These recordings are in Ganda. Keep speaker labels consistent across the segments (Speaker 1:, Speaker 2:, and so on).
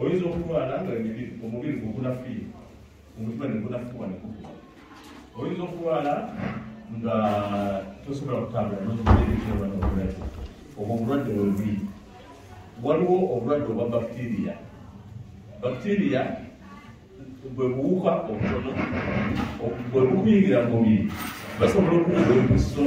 Speaker 1: oyinza okulwala nga omubiri gukunafuye omutima negunafuwa nekukuba oyinza okulwala nga tosobola kutambula nokibeerekyobanaobulwadde obwo obulwadde bwebubi waliwo obulwadde obwa bakitiria bakitiria bwe buwuka obutono bwe bukuyingira mu mubiri basobola okuwuka empiso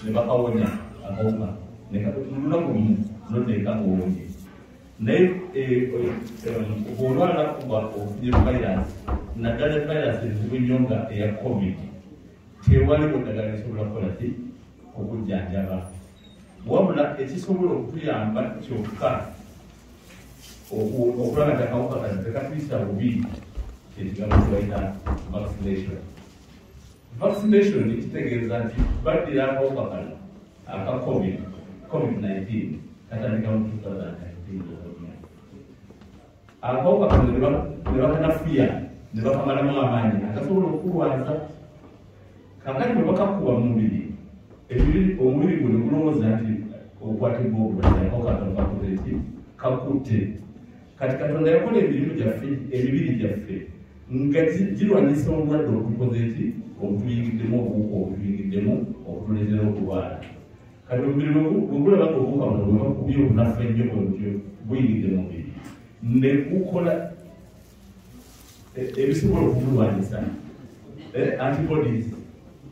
Speaker 1: ne bakawonya akawuka nolunaku lumu noteeka ngaowonye naye olwala kuba ofunye virus naddala virus ezibu nnyo nga eya covid tewaliwo ddagala esobola kukola ti okujjanjaba wabula ekisobola okutuyamba kyokka okulaba nti akawuka kano tekatuyisa bubi kyekigambo kibaita vaccination Vaccination kitegeeza nti baddira akawuka kano aka covid covid 19 katandika mu 2019 akawuka kano ne bakanafuya ne bakamalamu amaanyi agasobola okukulwaza kakati bwe bakakuwa mu mubiri omubiri guno gulowooza nti okwatibwa obulwadde akawuka kano kakutte kati katonda yakola emirimu gyaffe emibiri gyaffe nga girwanyisa obulwadde obutukoze eki obutuyingiddemu obuwuka obutuyingiddemu obutuleetera okulwala kati omubiri bwegulaba nga obuwuka buno bwebakubye obunafu ennyo bwebutyo buyingidde mu mubiri ne gukola e, ebisobola okubulwanyisa eh, antibodies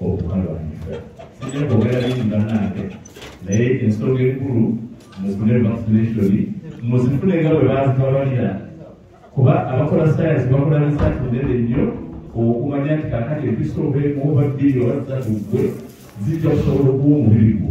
Speaker 1: okukalwanyisa sijja kwogera bingi bannange naye ensonga enkulu mufune vaccination muzifune nga bwe bazibabalira kuba abakola sayansi bakola risaati nene nnyo okumanya nti kakati empiso obeemu oba bbiri oba zitatu ggwe zijja kusobola okuwa omubiri gwo